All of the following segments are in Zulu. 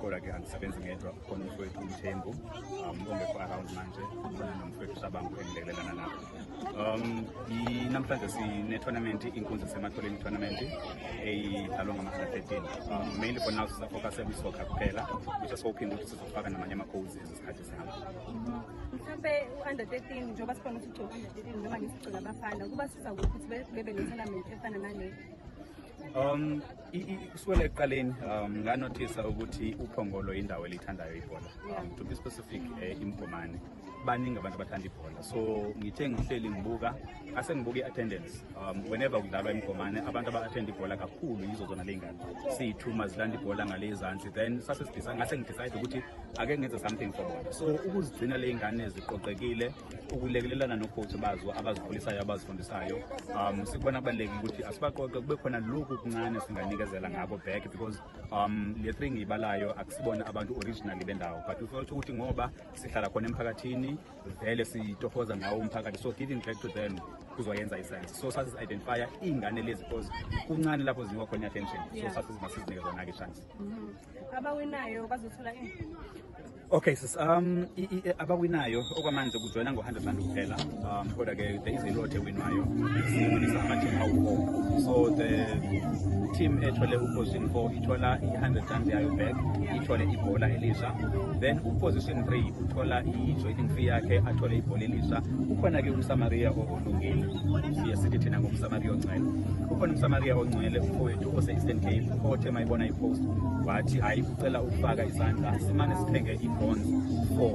kodwa ke angisebenzi ngedwa khona umfowethu umthembu um ongekho around manje khona nomfowethu sabangu engilekelelana nabo um namhlanje sine-tournament inkunzi sematholeni tournament eyidlalwa ngama-under 13 um mainly for now sisafocusa kwisoccer kuphela which asikophinde ukuthi sizofaka namanye ama-codes ezesikhathi sihamba mhlawumbe u-under 13 njengoba sikhona ukuthi ugcoka under 13 noma ngisigcina abafana kuba siza ukuthi bebe ne-tournament efana nale um Kusukela ekuqaleni um, nganothisa ukuthi uphongolo indawo elithandayo ibhola um, to be specific eh, imgomane baningi abantu abathanda ibhola so ngithe ngihleli ngibuka ase ngibuka i-attendance um, whenever kudlalwa imgomane abantu aba-athenda ibhola kakhulu yizo zona ley'ngane siyithuma zilanda ibhola ngale izansi then sase ngase ngidecide ukuthi ake ngenze something for bona so ukuzigcina ley'ngane ziqoqekile ukulekelelana nogogo bazo abazikhulisayo abazifundisayo um sikubona kubalulekile ukuthi asibaqoqe kube khona lokhu kuncane singanikezela ngako back because um le three ngiyibalayo akusibona abantu originally bendawo but ufotha ukuthi ngoba sihlala khona emphakathini vele sitohoza ngawo umphakathi so giving back to them kuzoyenza isense so sasizi-identifya iy'ngane lezi because kuncane lapho zinikwa khona i-attention so sasiziba sizinike zona-ke chance mm-hmm. abawinayo bazothola okay sis um abawinayo okwamanje kujoyina ngo-100 rand kuphela um kodwa ke there is a lot ewinwayo siwinisa ama-team awu-four so the team ethole uposition four ithola i-100 rand yayo back ithole ibhola elisha then uposition three uthola i-joining fee yakhe athole ibhola elisha kukhona-ke umsamaria Bhungeni siye sithi thina ngomsamariya ongcwele ukhona umsamariya ongcwele ufowethu ose-eastern cape othe mayibona ipost wathi hayi ucela ukufaka izandla simane sithenge i-bonds for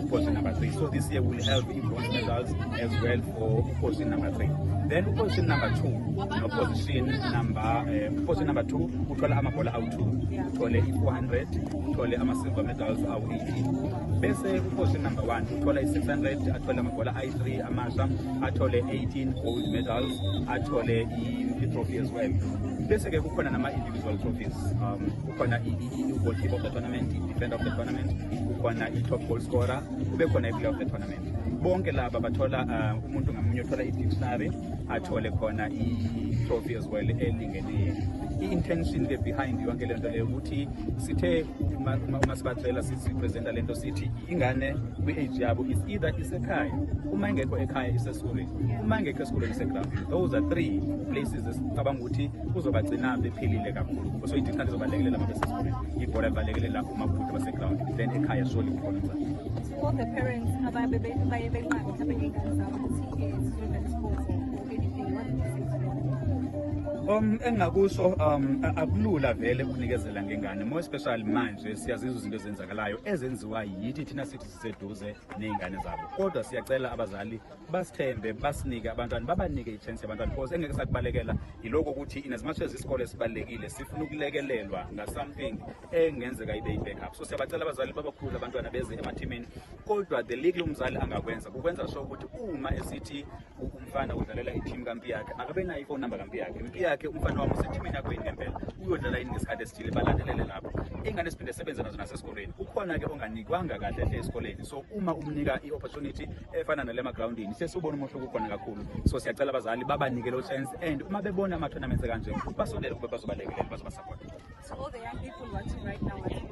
uposi number three so this year will help i-bonds results as well for uposi number three then uposi number two noposition number eh, uposi number two uthole amabhola awu-two uthole i-four hundred uthole ama-silver medals awu-eighteen bese uposi number one uthole i-six hundred athole amabhola 3 amasha athole 18 gold medals athole i-trophy as well bese-ke kukhona nama-individual trophies um kukhona i-goalkeeper of the tournament i-defender of the tournament kukhona i-top goal scorer kube khona i-player of the tournament bonke laba bathola uh, umuntu ngamunye othola i-dictionary athole khona i-trophy as well elingenile i-intention ke behind yonke le nto leyo ukuthi sithe uma sibacela sipresenta le nto sithi ingane kwi-age yabo is either isekhaya uma ingekho ekhaya isesikoleni uma ingekho esikoleni isegroundini those are three places esicabanga ukuthi kuzobagcina bephilile kakhulu so idinqanti izobalekelela uma besesikoleni ibhola libalekelela uma kude basegroundini then ekhaya surely khona All the parents ababe baye benqaba mhlawumbe ngey'ngane zabo ukuthi um zizodlala isports or anything what do you say to them? Um engingakusho um a- akulula vele ukunikezela ngengane more especially manje siyazizwa izinto ezenzakalayo ezenziwa yithi thina sithi siseduze nezingane zabo kodwa siyacela abazali basithembe basinike abantwana babanike ichance yabantwana because engeke sakubalekela yiloko ukuthi in as much as isikole sibalekile sifuna ukulekelelwa nga something engenzeka ibe i-backup so siyabacela abazali babakhulu abantwana beze emathimini kodwa the league umzali angakwenza kukwenza sho ukuthi uma esithi umfana udlalela ithimu kampi yakhe akabe nayo ifoni number kampi yakhe impi yakhe umfana wami usethimini yakho yini ngempela uyodlala yini ngesikhathi esithile balandelele lapho ingane siphinde sebenze nazo nasesikoleni kukhona ke onganikwanga kahle hle esikoleni so uma umnika i-opportunity efana nale magrawundini sesubona umehluko ukhona kakhulu so siyacela abazali babanike lo chance and uma bebona ama-tournaments kanje basondele ukuba bazobalekelela bazobasapota So all the young people watching right now watching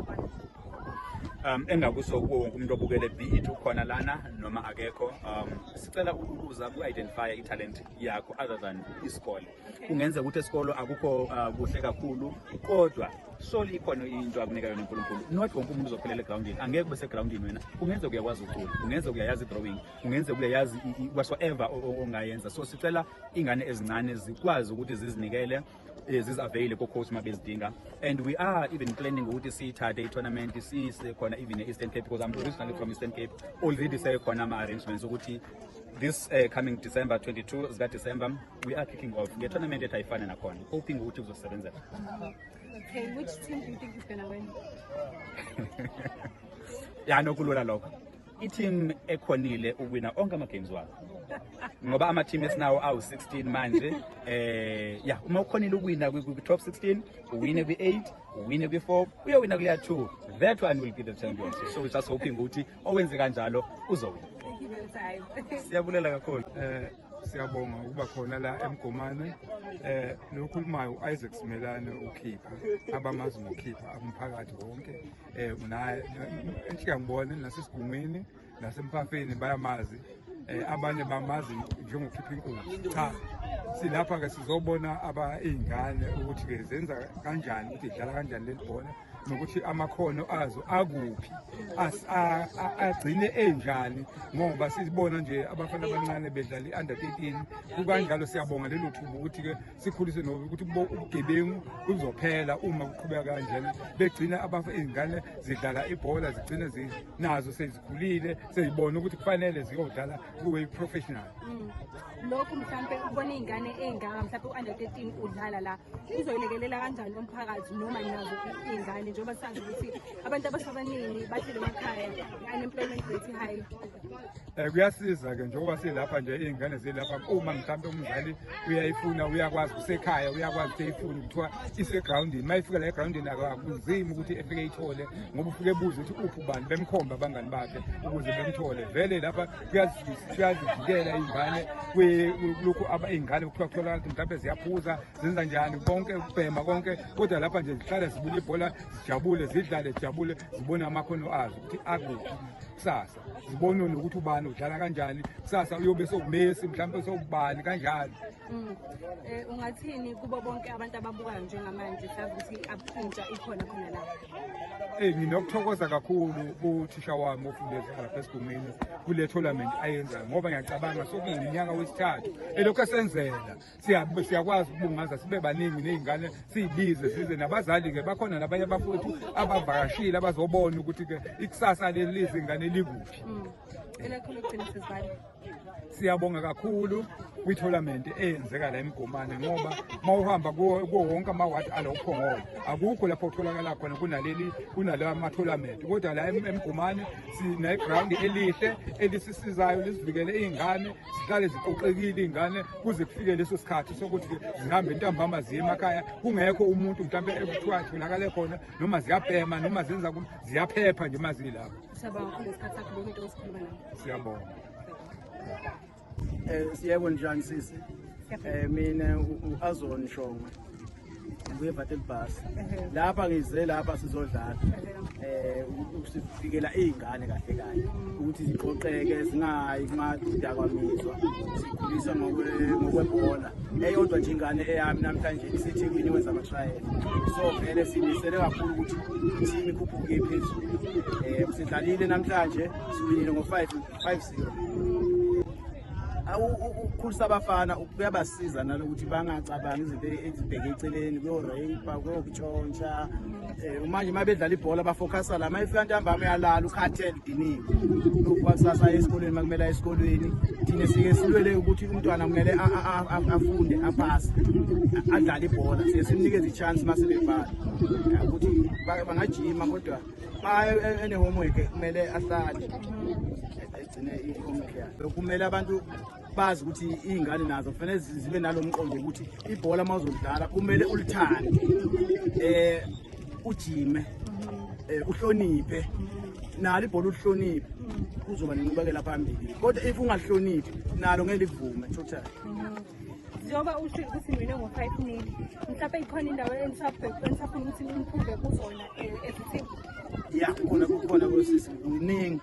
um engakusho kuwo wonke umuntu obukele it ukhona lana noma akekho um sicela ukubuza ku-identifya i-talent yakho other than isikole kungenzeka ukuthi esikolo akukho uh, kuhle kakhulu kodwa soli ikhona into akunika yona unkulunkulu not wonke umuntu uzophelela egrawundini angeke ube segrawundini wena kungenzeka uyakwazi ucula kungenzeka uyayazi idrawing kungenzeka uyayazi whatsoever ongayenza so sicela ingane ezincane zikwazi ukuthi zizinikele eh, zizaveyile ko-coach uma bezidinga and we are even planning ukuthi siyithathe i-tournament siyise khona even e-eastern cape because i'm originally from eastern cape already sekhona ama-arrangements ukuthi this uh, coming December 22 zika December we are kicking off nge tournament ethi ayifana nakhona hoping ukuthi kuzosebenza okay which team do you think is going to win ya nokulula lokho i-team ekhonile uwina onke ama-games wabo ngoba ama-team esinawo awu-16 manje eh ya uma ukhonile ukuwina kwi-top 16 uwine kwi-8 uwine kwi-4 uyowina kuleya 2 that one will be the champion so just hoping ukuthi owenze kanjalo uzowina siyabulela kakhulu um siyabonga ukuba khona la emgomane eh lokhulumayo uIsaac Simelane ukhipha abamazi ngokhipha umphakathi wonke eh unaye enhlika ngibone nasesigungwini nasempafeni bayamazi eh abanye bamazi njengokhipha inkulu cha silapha ke sizobona aba izingane ukuthi ke zenza kanjani ukuthi idlala kanjani lelibhola nokuthi amakhono azo akuphi agcine enjani ngoba sizibona nje abafana abancane bedlala i-under 13 kukanjalo siyabonga lelo thuba ukuthi ke sikhulise noba ukuthi ubugebengu buzophela uma kuqhubeka kanjena begcina abafa izingane zidlala ibhola zigcine nazo sezikhulile sezibona ukuthi kufanele ziyodlala kuwe professional mm. lokhu mhlampe ubona iy'ngane ey'ngaka mhlampe u-under 13 udlala la uzoyilekelela kanjani umphakathi noma nazo iy'ngane njengoba sazi ukuthi abantu abasabaningi bahlele emakhaya i-unemployment rate high um kuyasiza-ke njengoba silapha nje iy'ngane zilapha uma mhlawumbe umzali uyayifuna uyakwazi kusekhaya uyakwazi ukuthi eyifuni kuthiwa isegrawundini uma ifika la egrawundini akakuzimi ukuthi efike iyithole ngoba ufike ebuze ukuthi uphi ubani bemkhombe abangani bakhe ukuze bemthole vele lapha kuyazivikela iy'ngane kulokhu iy'ngane kuthiwa kutholakala ukuthi mhlawumbe ziyaphuza zenza njani konke ukubhema konke kodwa lapha nje zihlale zibuka ibhola zijabule zidlale zijabule zibone amakhono azo ukuthi akuphi kusasa zibonwe nokuthi ubani udlala kanjani kusasa uyobe sokubesi mhlawumbe sokubani kanjani mm. eh, ungathini kubo bonke abantu ababukayo njengamanje sazi ukuthi abushintsha ikhona khona la eyi eh, nginokuthokoza kakhulu kuthisha wami ofundeza lapha esigumeni kule tournament ayenzayo ngoba ngiyacabanga sokuyiminyaka wesithathu elokhu esenzela siyakwazi ukubungaza sibe baningi ney'ngane siyibize size nabazali-ke bakhona nabanye abafowethu abavakashile abazobona ukuthi-ke ikusasa lelizi ingane likuphi mm. siyabonga kakhulu kwi-tournament eyenzeka la emgomane ngoba uma uhamba kuwo wonke amawadi alo uphongolo akukho lapho kutholakala khona kunaleli kunalawa ama-tournament kodwa la emgomane sineground elihle elisisizayo lisivikele iy'ngane zihlale ziqoqekile iy'ngane kuze kufike leso sikhathi sokuthi zihambe ntambama ziye emakhaya kungekho umuntu mhlawumbe ekuthiwa atholakale khona noma ziyabhema noma zenza ziyaphepha nje uma zilapho siyabonga um siyebo njani sisi um mina u-azon shongwe ngiyevatela ibhasi lapha ngize lapha sizodlala um ukusifikela iy'ngane kahle kahle ukuthi ziqoqeke zingayi kumadidakwaminzwa sikhulisa ngokwebhola eyodwa nje ingane eyami namhlanje isethekwini wenza amatrayela so vele simisele kakhulu ukuthi ithimu ikhuphuke phezulu um sidlalile namhlanje siwinile ngo-five five zero ukukhulisa abafana kuyabasiza nalokuthi bangacabangi izinto ezibheke eceleni kuyorape kuyokutshontsha um manje uma bedlala ibhola bafocasa la uma efika ntambama uyalala ukhathele udiniwe kwakusasa esikolweni uma kumele esikolweni thina sike silwele ukuthi umntwana kumele afunde aphase adlale ibhola siye simnikeze i-chance uma sebebhala ukuthi bangajima kodwa uma e-, e-, ene-homework kumele ahlale kumele abantu bazi ukuthi iy'ngane nazo kufanele zibe nalo mqondo ukuthi ibhola uma uzolidlala kumele ulithande um ujime um uhloniphe nalo ibhola ulihloniphe kuzoba nenqubekela phambili kodwa if ungahloniphi nalo ngeke livume totally njengoba usho ukuthi mina ngo-five nil mhlawumpe ikhona indawo enisafuna ukuthi nimphumbe kuzona eh, ezithini ya khona kukhona kosisi kuningi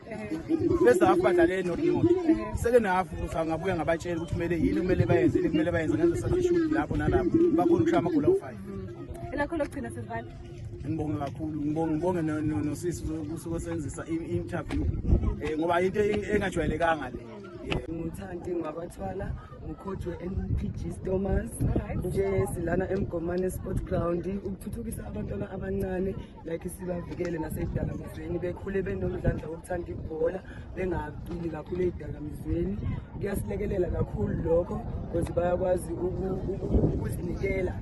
bese hafu badlale nodingodo sekena hafu kuthi angabuya ngabatshela ukuthi kumele yini kumele bayenze yini kumele bayenze ngenza sathi ishudi lapho nalapho bakhona ukushaya amagoli awu-five elakho lokugcina sesibani ngibonge kakhulu ngibonge ngibonge nosisi kusuke senzisa i-interview um ngoba into engajwayelekanga le ngithandi ngwabathwala ngikhothwe mpg stomas nje silana emgomane sport ground ukuthuthukisa abantwana abancane like sibavikele nasey'dakamizweni bekhule benomdlandla wokuthanda ibhola bengacili kakhulu ey'dakamizweni kuyasilekelela kakhulu lokho because bayakwazi ukuzinikela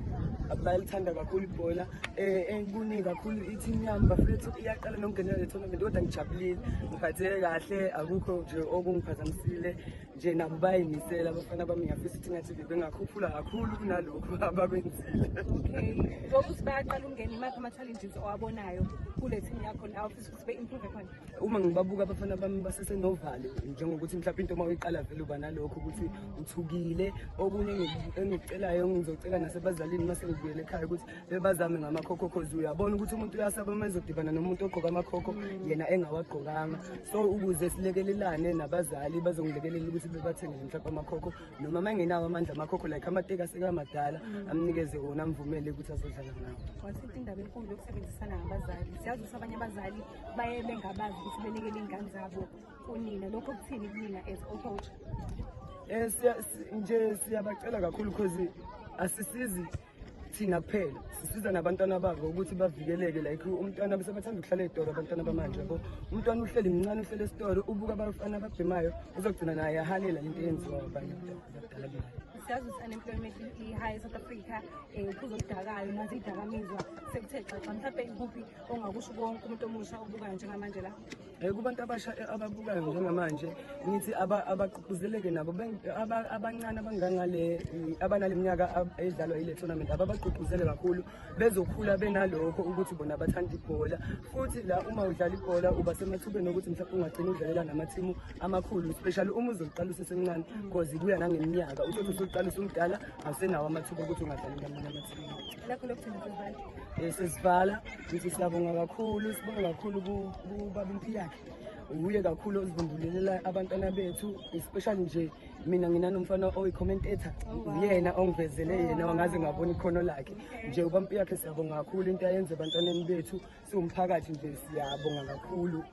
bayalithanda kakhulu ibhola um ekuningi kakhulu i-team yami bafethu iyaqala nokungenela le tournament kodwa ngijabulile ngiphatheke kahle akukho nje okungiphazamisile nje nabo bayimisela abafana bami ngiyafisa ukuthi ngathi bebengakhuphula kakhulu kunalokhu abakwenzile okay njengoba ukuthi bayaqala ukungena imaphi ama-challenges owabonayo kule team yakho la ufisa ukuthi be-improve khona uma ngibabuka abafana bami basesenovalo njengokuthi mhlawumpe into uma uyiqala vele uba nalokho ukuthi uthukile okunye engikucelayo ngizocela nasebazalini uma sengibuyele ekhaya ukuthi bebazame ngamakhokho cause uyabona ukuthi umuntu uyasaba uma ezodibana nomuntu ogqoka amakhokho yena engawagqokanga so ukuze silekelelane nabazali bazongilekelela ukuthi bebathengele mhlawumbe amakhokho noma uma engenawo amandla amakhokho like amateki asekamadala amnikeze wona amvumele ukuthi azodlala ngawo wasitha indaba enkulu yokusebenzisana ngabazali siyazi ukuthi abanye abazali baye bengabazi ukuthi belekele iy'ngane zabo kunina lokho kuthini kunina as ocoach um eh, nje siyabacela kakhulu because asisizi thina kuphela sisiza nabantwana babo ukuthi bavikeleke like umntwana bese bathanda ukuhlala ezitoro abantwana bamanje yabo umntwana uhleli mncane uhleli esitoro ubuka abafana ababhemayo uzogcina naye ahalela into eyenziwa abanye abadala bayo siyazi ukuthi unemployment i-high south africa um eh, kuzokudakayo nazi idakamizwa sekuthe xaxa mhlawumbe ikuphi ongakusho konke umuntu omusha obukayo njengamanje la Eh, kubantu abasha eh, ababukayo njengamanje ngithi abagqugquzeleke nabo abancane abangangale eh, abanale minyaka edlalwa ile tournament ababagqugquzele kakhulu bezokhula benalokho ukuthi bona bathanda ibhola futhi la uma udlala ibhola uba semathubeni okuthi mhlawumbe ungagcina udlalela namathimu amakhulu especially uma uzoqala usesemncane because kuya nangeminyaka uthi usuqala usumdala awusenawo amathuba ukuthi ungadlali ngamanye amathimu lakho lokugcina sesivala Ngithi siyabonga kakhulu sibonga kakhulu kubaba Mphilakhe uye kakhulu ozibumbulelela abantwana bethu especially nje mina nginanomfana oyi-commentator uyena ongivezele yena wangaze ngabona ikhono lakhe nje ubampi yakhe siyabonga kakhulu into ayenze ebantwaneni bethu siwumphakathi nje siyabonga kakhulu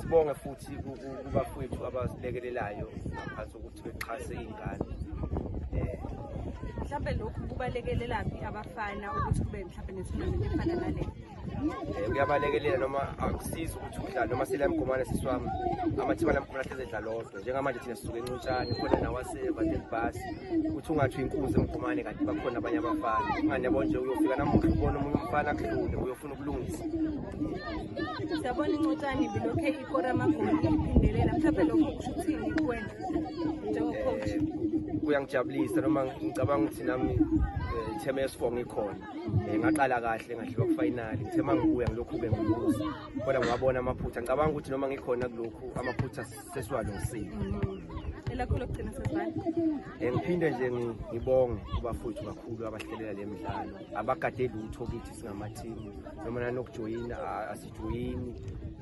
Sibonge futhi kubafowethu abasilekelelayo ngaphansi ukuthi bexhase iy'ngane eh, mhlawumbe lokhu kubalekelelaphi abafana ukuthi kube mhlawumbe nethunamenti efana nale eh, kuyabalekelela noma akusizi ukuthi udlale noma sile mgomane sisi wami amathiba lamgomane ahlezi edlala odwa njengamanje thina sisuke encutshane khona nawasevadelbhasi ukuthi ungathi inkunzi emgomane kanti bakhona abanye abafana ungane yabo nje uyofika namuhla ubona omunye umfana kudlule uyofuna kulungisa siyabona incotshane bilokhe ikora amagoli iphindelela mhlawumbe lokho kusho ukuthini kuwena njengocoach kuyangijabulisa noma ngicabanga ukuthi nami eh, ithema yesifo ngikhona um eh, ngaqala kahle ngadliwa kufayinali ngithe ma ngibuya ngilokhu-ke ngibuza kodwa ngiwabona amaphutha ngicabanga ukuthi noma ngikhona kulokhu amaphutha sesiwalungisile elakho lokugcina sesibani um ngiphinde nje ngibonge kubafowethu kakhulu abahlelela le midlalo abakade lutho kithi singamathimu noma nanokujoyina asijoyini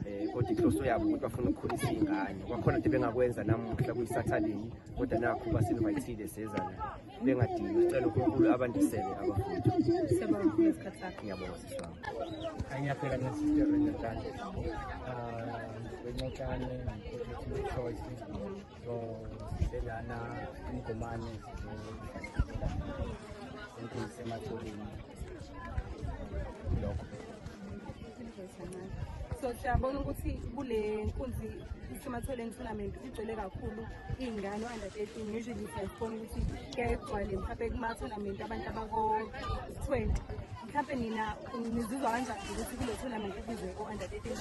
um kodwa inhloso yabo ukuthi bafuna ukukhulisa iy'ngane kwakhona nto bengakwenza namuhla kuyi-saturday kodwa nakho basinvayithile sezana bengadingi sicela unkulunkulu abandisele abafundi ngiyabonga siswami angiyaphela ngesiterenetane um ah, bencokane so selana umgomane enkulu sematholeni lokho so siyabona ukuthi kule nkunzi isematholeni tournament igcwele kakhulu iy'ngane o-under thirteen usually siyazibona ukuthi kuyaye kugcwale mhlawumbe kuma-tournament abantu abako-twenty mhlawumbe nina nizizwa kanjani ukuthi kule tournament kubizwe o-under thirteen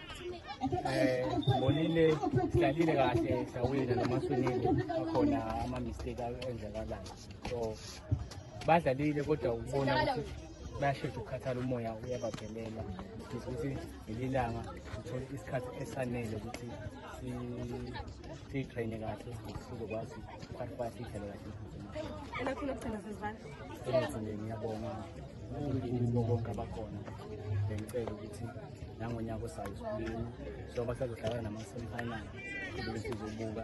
Eh, bonile hlalile kahle sawina nomaswinile akhona ama-mistake enzakalayo so badlalile kodwa ukubona ukuthi bayashesha ukukhathala umoya uyabaphelela ukuthi ngeli langa uthole isikhathi esanele ukuthi siyitrayine kahle sizokwazi ukuqaqwa siyidlale kahle elakhulu okugcina sezibandla ngiyabonga unkulunkulu bonke abakhona bengicela ukuthi nangonyaka osayo isibilini so basazohlala nama-semifinal sizobuka